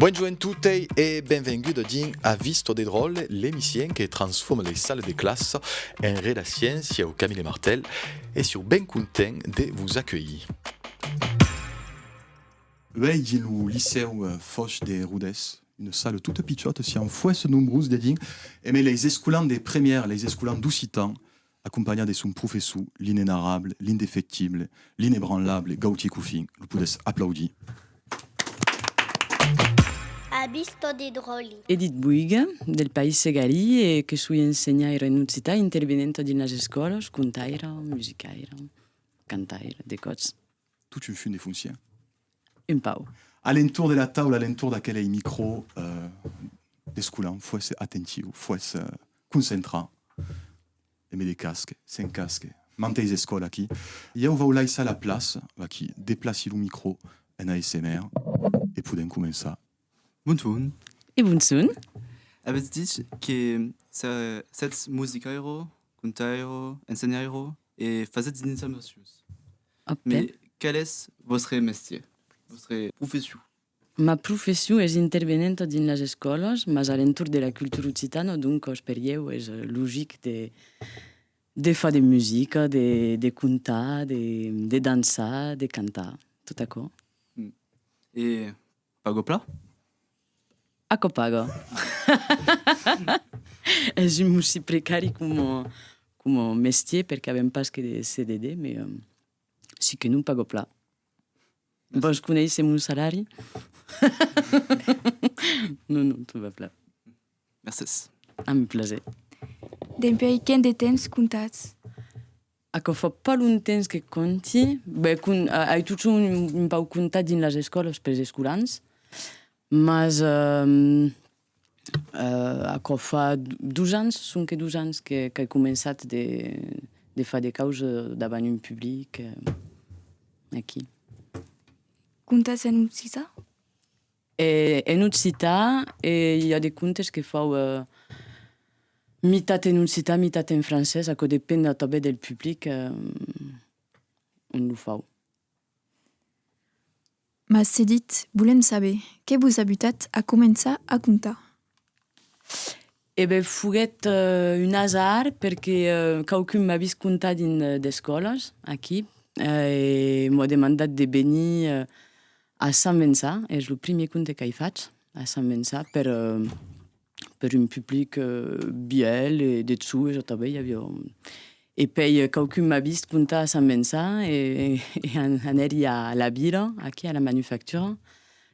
Bonjoent totei e benvenguda dins A Visto de Dròlle, l'emission que transforma lei salles de classa en redaciens. Sieu Camille Martel e sieu ben content de vos acuelhir. Uèi dins lo licèu Fòch de Rodés, una salle tota pichòta, siam fuèsse nombrós dedins, emèi leis escolans de première, leis escolans d'occitan, acompanhat de son professor, l'inenarrable, l'indefectible, l'inebranlable Gautier Cuffin, lo podètz aplaudir. Abis tot de dròli. Edith Boiga, del País Segalí e que soi ensenhaira en occitan intervenenta dins las escòlas, contaira, musicaira, cantaira, de còts. Tot un fum de foncièr. Un pau. A l'entorn de la taula, a l'entorn d'aquelei micro, desculant, fuesse attentiu, fuesse concentrat, e me decasque, s'encasque, manteis escòl aquí. Iau vau laissar la plaça, aquí, deplaci lo micro en ASMR e podèm començar Bonsoun. E bonsoun. Avètz dich que sètz musicairo, contairo, ensenhairo e fasètz d'insamacions. Òcte. Mès qual es vòstre mestier, vòstre profession? Ma profession es intervenenta dins las escòlas, mas a l'entorn de la cultura occitana, doncas per ieu es logic de de far de musica, de de contar, de de dançar, de cantar, tot aquò. E Pago pla? Aquò paga. Es un mossí precari coma, coma mestier, perque avèm pas que de CDD, me si que non pago pla. Vòs conéisser mon salari? non, non, tot va pla. Mercés. Amb plaser. Dempuèi quin de temps comptatz? Aquò fa pas longtemps que conti, beh, con, ai totjorn un, un pauc contat dins las escòlas pels escolans, mas ehm, eh, aquò fa dos ans, sonque dos ans que, qu'ai començat de, de far de caus davant un public, eh, aquí. Contas en occitan? E en occità e i a de contes que fau mitat en occità mitat en francés, aquò depend atabè del public ont lo fau. Mas se ditz, volèm saber, que vos a butat a començar a contar? E ben foguèt un azar perque quauqu'un m'a vist contar dins d'escòlas aquí e m'au demandat de venir a Sant Vençà, es lo primièr conte qu'ai fach a Sant Vençà per per un public vièlh e de chou, jo tanben i aviá un... E pei quauqu'un m'a vist contar a Sant Vençà e an anèri a la vila, aquí a la manufactura,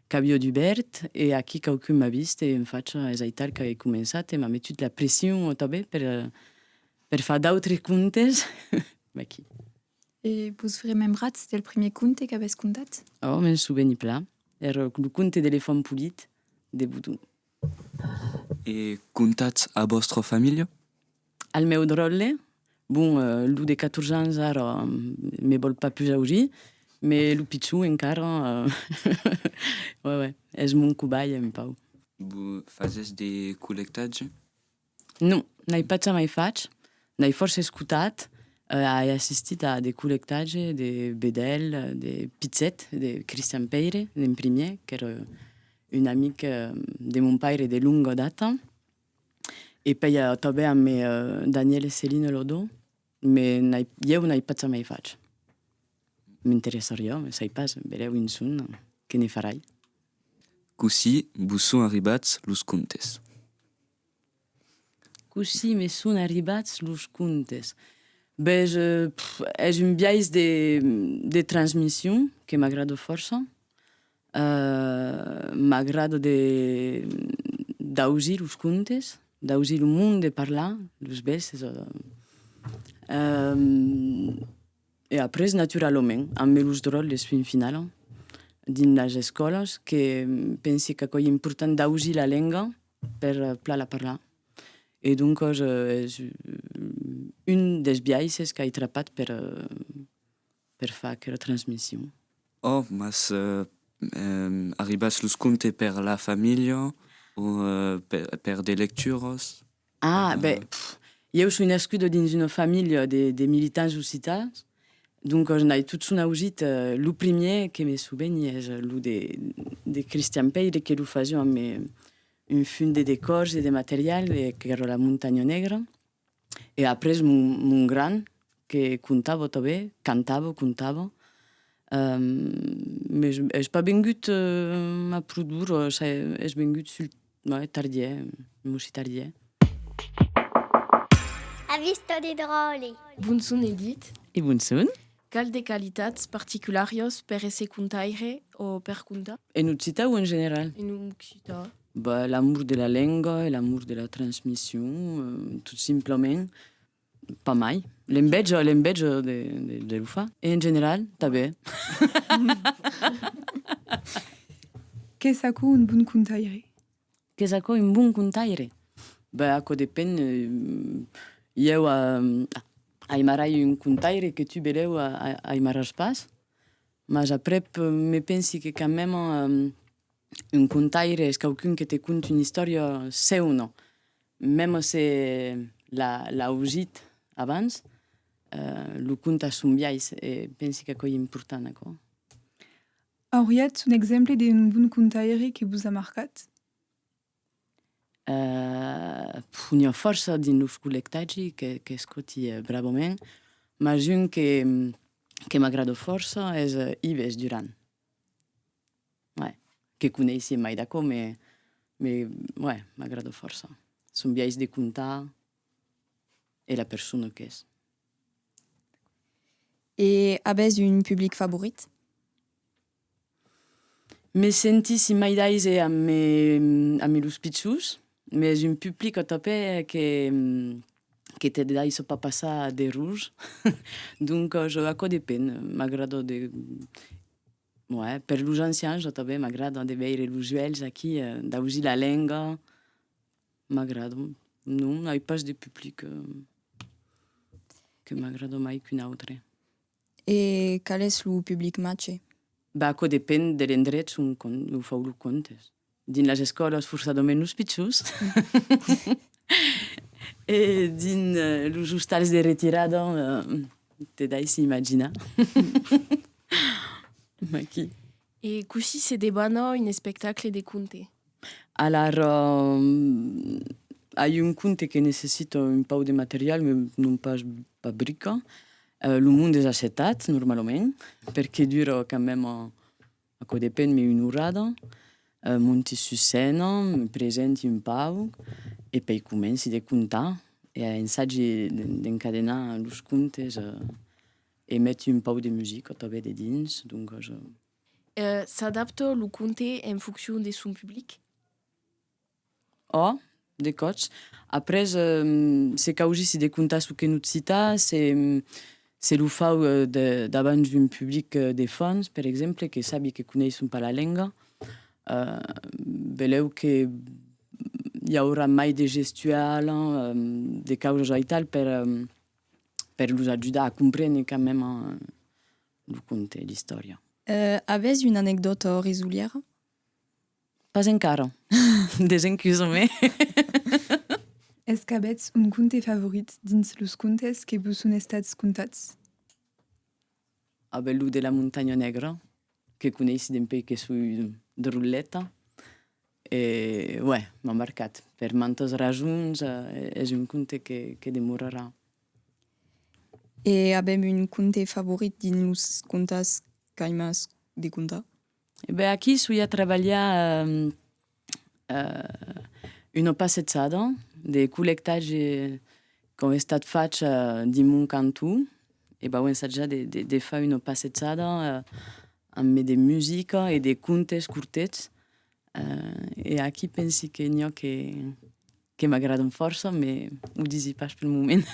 Qu'avió dubèrt, e aquí quauqu'un m'a vist, e en facha es aital qu'agué començat, e m'a metut la pression au tabè per per far d'autres contes, vaquí. E vos vos remembratz del primier conte qu'avètz contat? Òh, me'n souveni plan, èra lo conte de l'elefant polit de Boudon. E contatz a vòstra familha? Al meu dròlle, bon, lo de 14 ans ara me vòl pas pus auzir, me lo pichon encara es mon cobaia un pauc. Vos fasètz de collectatge? Non, n'ai pas jamai fach, n'ai fòrça escotat, ai assistit a de collectatge de Bedèlh, de Pitzet, de Cristian Pèire en primièr, qu'èra un amic de mon paire de longa data, e pèi tanben amb Daniel e Céline Lodon, Me n'ai, ieu n'ai pas jamai fach. M'interessariá, me sai pas, verèu un son, que ne farai. Cossí vos son arribats los contes? Cossí me son arribats los contes? Bes, es un biais de, de transmission que m'agrada fòrça. M'agrada de d'ausir los contes, d'ausir lo monde parlar, los bèstes. E après, naturalament, amb los dròlles fin finala, dins las escòlas, que pensi qu'aquò ei important d'ausir la lenga per plan la parlar. E doncas es un dels biaisses qu'ai trapat per per far aquela transmission. Oh, mas arribas los contes per la familha o per de lecturas? Ah, ben, ieu soi nascuda dins una familha de militants occitans, doncas n'ai totson ausit. Lo primièr que me soveni es lo de Cristian Pèire que lo fasiá amb un fum de decòrs e de material, qu'èra La Montanha Negra. E après mon gran que contava tanben, cantava, contava, mes es pas vengut a produr, es vengut sul tardièr, non si tardièr. Avis tot de dròlle. Bon son Edith. E bon son. Cal de qualitats particulàrios per èsser contaire o per contar? En occitan o en general? En occitan. Bah, l'amor de la lenga e l'amor de la transmission, tot simplament, pas mai. L'enveja, l'enveja de de lo far. E en general, tanben. Qu'es aquò un bon contaire? Qu'es aquò un bon contaire? Ben, aquò depen. Ieu aimarai un contaire que tu belèu aimaràs pas, mas aprèp me pensi que quand même un contaire es quauqu'un que te cont una istòria seuna, mèm se l'a ausit abans, lo cont a son biais e pensi qu'aquò ei important, aquò. Auriatz un exemple d'un bon contaire que vos a marcat? Puh, n'i a fòrça dins los collectatgi qu'escoti bravament, mas un que m'agrada fòrça es Ives Duran. Uèi, que coneissi mai d'aquò, me uèi, m'agrada fòrça son biais de contar e la persona qu'es. E avètz un public favorit? Me senti simai d'aise amb me amb me los pichons, mes un public au topè que que te daissa pas passar d'errors, donc jo aquò depen, m'agrada de ouais per los ancians au topè m'agrada de veire los uèlhs aquí, d'ausir la lenga, M'agradon. Non, ai pas de public que m'agrada mai qu'un autre. E qual es lo public matge? Bah, aquò depend de l'endrech ont lo fau lo contes. Dins las escòlas forçadament los pichons e dins los ostals de retirada te daissi imaginar. Mai qui? E cossí se debana un espectacle de conte? Alara, ai un conte que necessita un pauc de material, me non pas pas brica. Lo monde es assetat, normalament, perque dura quand même, aquò depen, me una orada. Monti sus scèna, me presenti un pauc e pei comenci de contar e ensagi d'encadenar los contes E meti un pauc de musica tanben de dins, donc je. S'adapta lo conte en foncion de son public? Òh, de còps. Après, se causissi de contar çò que no't cita, se, se lo fau davant un public de fans, per exemple, que sabi que coneisson pas la lenga, beleu que i aurà mai de gestual, de causas aital per. per los ajudar a comprene quand meme lo conte, l'istòria. Avètz una anecdòta orizolièra? Pas encara, desencusomé. Es qu'avètz un conte favorit dins los contes que vos son estats contats? Avel lo de la Montanha Negra, que coneissi dempei que soi de Rolleta. E uè, m'a marcat. Per mantas rasons es un conte que demorarà. E avèm un conte favorit dins los contas qu'aimás de contar? E ben aquí soi a trabalhar una passejada de collectatge qu'au estat fach dins mon canton, e b'au ensatjar de, de, de far una passejada ambe de musica e de contes cortets, e aquí pensi que n'i a que, que m'agradan fòrça, me o disi pas pel moment,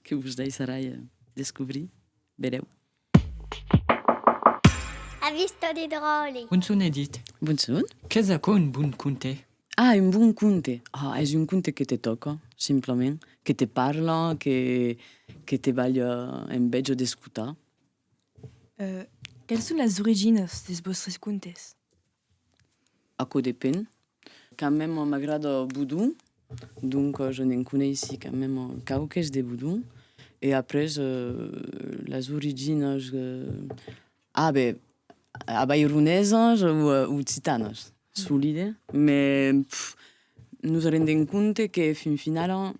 que vos daisserai descobrir, verèu. Avisto de dròlle. Un son edit. Bon son. Qu'es aquò un bon conte? Ah, un bon conte! Ah, es un conte que te tòca, simplament, que te parla, que, que te balha en bèth d'escotar. Que'ls son las originas des vòstres contes? Aquò depen. Quand meme m'agrada Boudon, donc je n'en coneissi quand meme quauques de Boudon. E après las originas, a ben, avaironesas o occitanas, solide. Me nos rendem compte que fin finala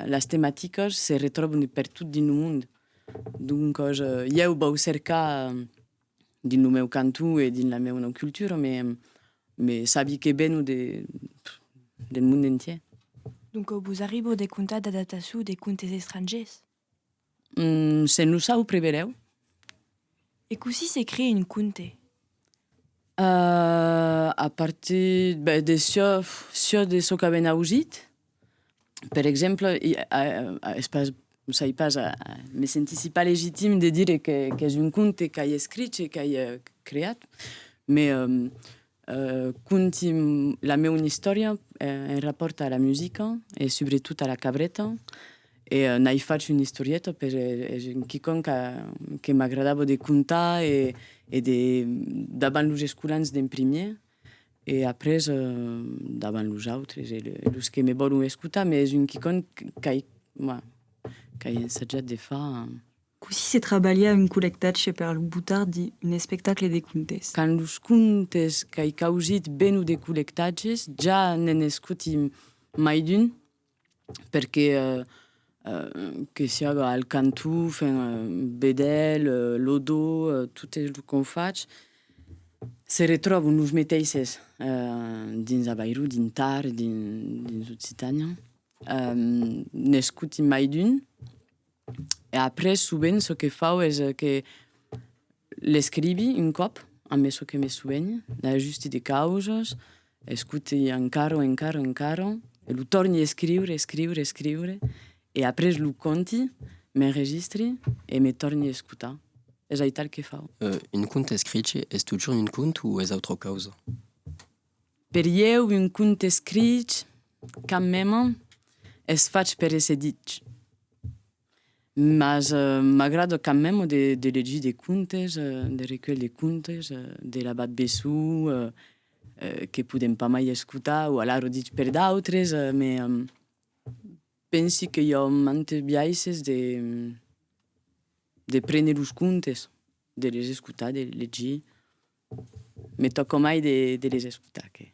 las tematicas se retròban pertot dins lo mond. Donc ieu vau cercar. dins lo meu cantó e dins la meuna cultura, me, me sabi que veno de, del monde entier. Doncau vos arribo de contar d'adaptaço de contes estrangers? Hum, se nos au prevelèu. E cossí s'ecri un conte? A, a partir, ben, de çò, çò de çò qu'aven ausit. Per exemple, es pas, sai pas, me sentissi pas legitim de dire qu'es un conte qu'ai escrich e qu'ai creat, me conti la meuna istòria en rapòrt a la musica e subretot a la cabreta e n'ai fach una istorieta per es un quicòm que m'agradava de contar e de davant los escolans d'en primièr. E après, davant los autres e los que me vòlon escotar, me es un quicòm qu'ai qu'ai ensajat de far. Cossí se trabalha un collectatge per lo botar dins un espectacle de contes? Quand los contes qu'ai causit ven o de collectatges, ja ne'n escoti mai d'un. perque que siaga al cantó, fen vedèl lo do, tot es lo qu'on fach, se retròvon los meteisses dins Avairu, dins Tar, dins Occitània, n'escoti mai d'un. E après sovent çò que fau es que l'escrivi un còp ambe çò que me sovenhi, l'ajusti de causas, escuti encara, encara, encara e lo torni escriure, escriure, escriure e après lo conti, m'enregistri e me torni escutar. Es aital que fau. Un cònt escrich es totjorn un cònt o es autra causa? Per ieu un conte escrich quand meme es fach per èsser dich. Mas m'agrada quand meme de legir de contes, de recuelhs de contes, de l'abat Bessou, que podèm pas mai escotar, o alara dich per d'autres, me pensi que i a mantes biaisses de de prene los contes, de les escotar, de les legir, Me tòco mai de les escotar que.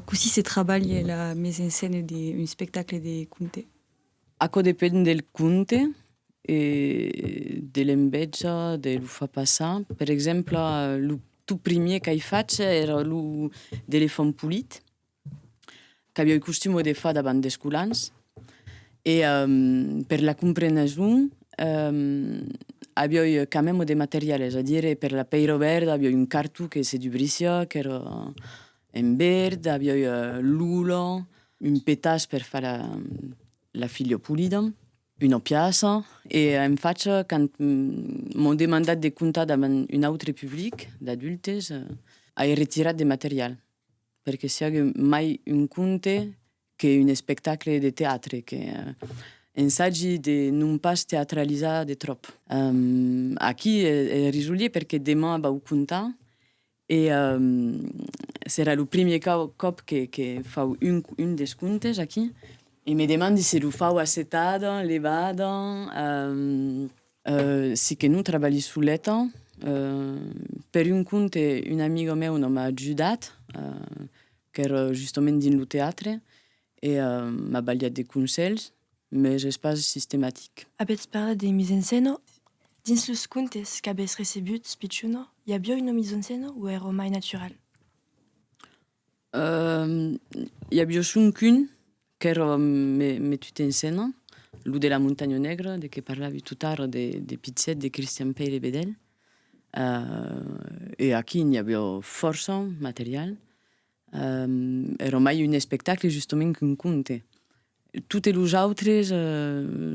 Cossí se trabalhe la mise en scène d'un espectacle de conte? Aquò depend del conte e de l'embètja de lo far passar. Per exemple, lo tot primièr qu'ai fach èra lo D'elefant polit. qu'avioi costumo de far davant des colans e per la compreneson avioi camemo de material, es a dire per la pèira verda avioi un carto que se dubrissiá qu'èra en verd, avioi l'ola, un petas per far la filha polida, una piaça e en facha quand m'an demandat de contar davant un autre public d'adultes ai retirat de material. perque siague mai un conte que un espectacle de teatre que ensagi de non pas teatralizar de tròp. Aquí e risolier perque deman vau contar e serà lo primier còp que fau un des contes aquí e me demandi se lo fau assetada, levada, Si que non trabalhi soleta, per un compte, un amiga meu non m'a ajudat, qu'èra justament dins lo teatre, e m'a balhat de conselhs, mes es pas sistematic. Avètz parlat de mise en scèna? Dins los comptes qu'avètz recebuts pichona, i aviá una mise en scèna o èra mai natural? I aviá soncun Qu'èra me tut en scèna, lo de la Montanha Negra, de que parlavi tot ara, de Pitzet, de Cristian Pèire Bedèlh, e aquí n'i aviá fòrça material. Èra mai un espectacle justament qu'un conte. Totes los autres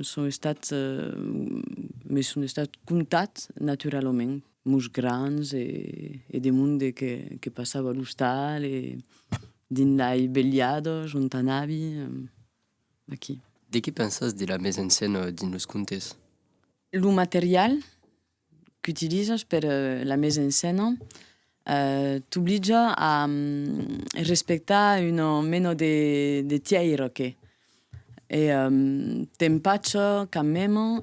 son estats, me son estats contats naturalament, Mos grands e de monde que passava a l'ostal e dins lai belhados ont anavi aquí. De qué pensas de la mise en scène dins los contes? Lo material qu'utilizas per la mise en scène t'oblitja a respectar un mena de tièirque e t'empatja quand meme.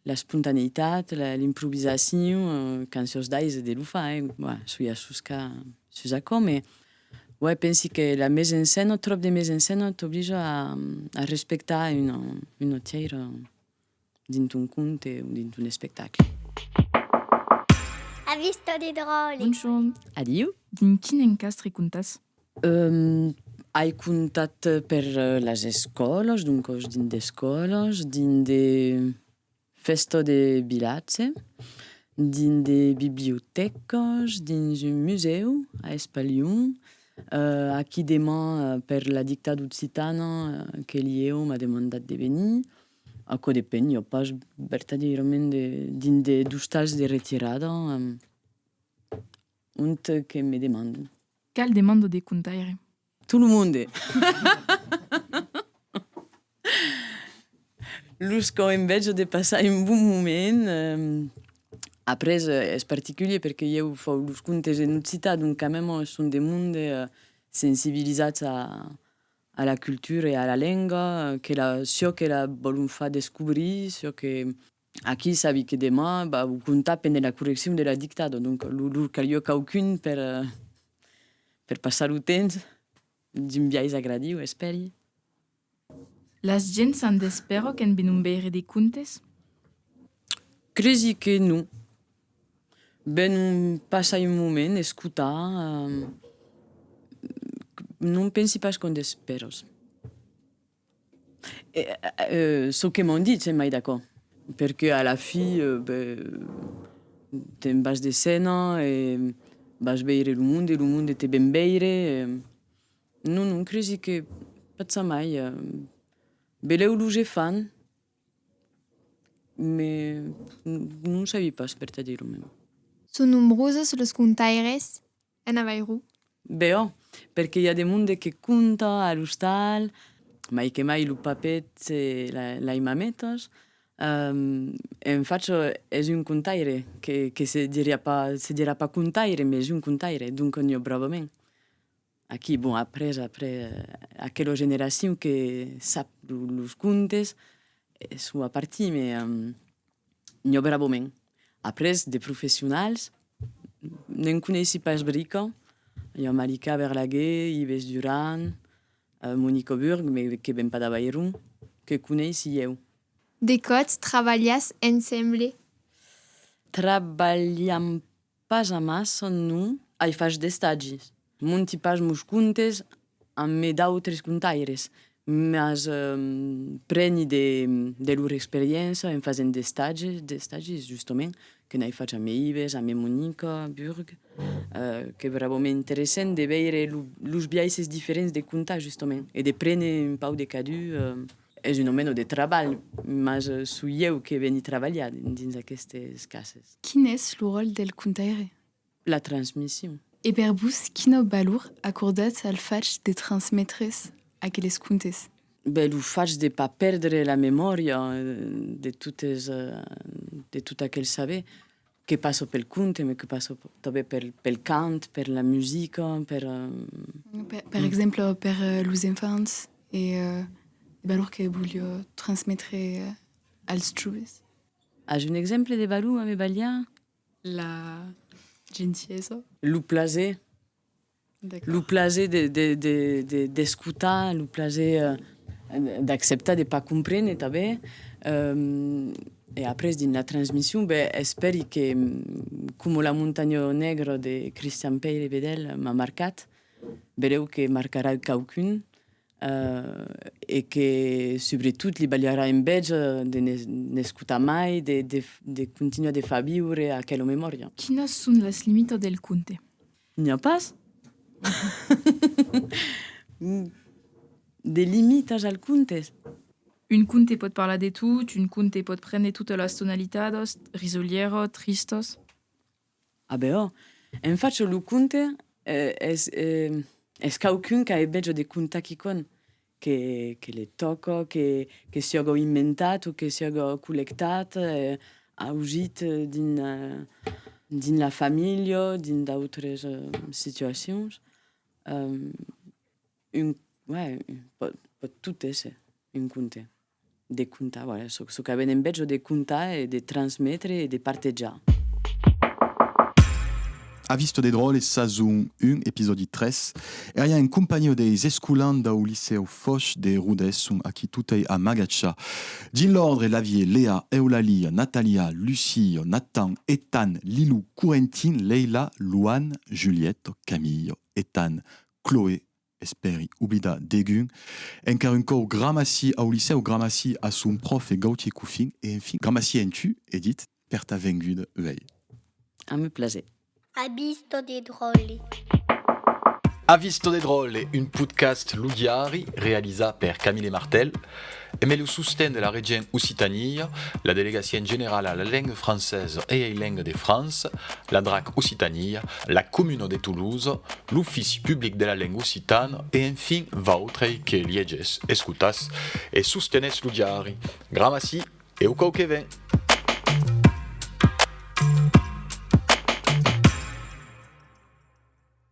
L'espontaneitat, l'improvisacion, cançons d'Aise de Lufà, eh? Bah, soi a soscar sus aquò, mès uèi pensi que la mise en scène, ò tròp de mise en scène, t'oblija a respectar una autièira dins ton conte o dins ton espectacle. Avis tot idraulic. Bonjorn. Adiu. Dins quin encastre comptàs? Ai comptat per las escòlas, doncas dins d'escòlas, dins de fèstas de vilatge, dins de bibliotècas, dins un musèu a Espalhon, aquí deman per la dictada occitana que l'ieu m'a demandat de venir, aquò depen, i a pas vertadièrament de dins de d'ostals de retirada ont que me demandan. Cal demando de contaire. Tout lo monde. Los qu'au enveja de passar un bon moment, après es particulier perque ieu fau los contes en occitan donc quand même son de monde sensibilisats a la cultura e a la lenga, çò que la vòlon far descobrir, çò que. Aquí sabi que demà vau comptar pendent la correccion de la dictada, donc lor calió quauqu'un per per passar lo temps d'un biais agradiu, espèri. Las gents s'an d'espèra qu'en venon veire de contes? Cresi que non. Venon passar un moment, escotar, non pensi pas qu'an d'espèras. Çò que m'an dit, se mai d'acò. Perque a la fi, te'n vas de scèna e vas veire lo monde, lo monde te ven veire. Non, non, cresi que pas ça mai. Belèu lo je fan, me non sabi pas per te dire. Son nombroses los contaires En Avairu. Beò, perque i a de monde que conta a l'ostal, mai que mai lo papet e lai mametas, en fach es un contaire, que se diriá pas, se dirà pas contaire, mes un contaire, donc n'i ò bravament. Aquí, bon, après, après, aquelo generacion que sap los contes, sua parti, mes Nhò bravament. Après, de professionals, ne'n coneissi pas brica. I a Marica Berlaguer, Ives Duran, Monique Auburg, me que ven pas d'Avairon, que coneissi ieu. De quòts trabalhatz ensemble? Trabalham Pas amassa son nom ai fach d'estagis. Monti pas mos contes amb mes d'autres contaires, mas preni de lor experiéncia en fasent d'estagis, d'estagis justament, que n'ai fach a Meibes, a Memonica, a Burg, qu'es brabament interessent de veire los biaisses diferents de contar justament e de prene un pauc de cadu. Es un omeno de trabalh, mas so ieu que veni trabalhar dins aquestes cases. Quin es lo ròl del contaire? La transmission. E per vos, quina valor acordatz al fach de transmetre-s aqueles contes? Bèi, lo fach de pas pèrdre la memòria de totes, de tot aquel saber, Que passo pel conte, me que passo tanben pel, pel cant, per la musica, per... Per, per exemple, per los enfants e de valor que volio transmetre als joves. As un exemple de valor a me balhar? La gentiesa. Lo plaser. Lo plaser d'escotar, lo plaser d'acceptar de pas comprene tanben, e après dins la transmission, ben espèri que coma la montanha negra de Christian Peyl e Bedel m'a marcat, bereu que marcarà a quauqu'un, e que subretot li balharà enveja de n'escotar mai, de continuar de far viure aquela memòria. Quinas son las limitas del conte? N'i a pas de limitas al conte? Un conte pòt parlar de tot, un conte pòt prendre totas las tonalitadas, risolièra, tristas. A beò, en fachò lo conte es quauqu'un qu'a e beja de contar quicòm, que le tòco, que siògo inventat o que siògo collectat, aujit dins la familha o dins d'autres situacions, un, ouais, pòt tot èsser un conte. De contar, voilà, çò, çò que venem bèth jo de contar e de transmetre e de partejar. A Vista des Dròlles, sazon 1, episòdi 3, èria en companhiá deis escolans dau Licèu Fòish de Rodés, ont aquí totei amagatja. Dins l'òrdre l'avié Lea, Eulalia, Nathalia, Lucie, Nathan, Ethan, Lilou, Corentin, Leila, Louane, Juliette, Camille, Ethan, Chloé, Espèri oblidar degun. Encara un còu Gramaci au Licèu, Gramaci a son pròfe Gautier Cuffin e enfin Gramaci en tu, Edit, per ta venguda uèi. A me plaser. Ha visto de dròlle. Ha visto de dròlle, un podcast Lo Diari realizat per Camille Martel. Emé lo sosten de la Regent Occitania, la Delegacion Generala a la Lenga Francesa e ei Lenga de França, la drac Occitania, la Comuna de Toulouse, l'Ofici Public de la Lenga Occitana e enfin vautrei que liegés, escotatz e sostenetz lo diari. Gramaci e au cau que ven!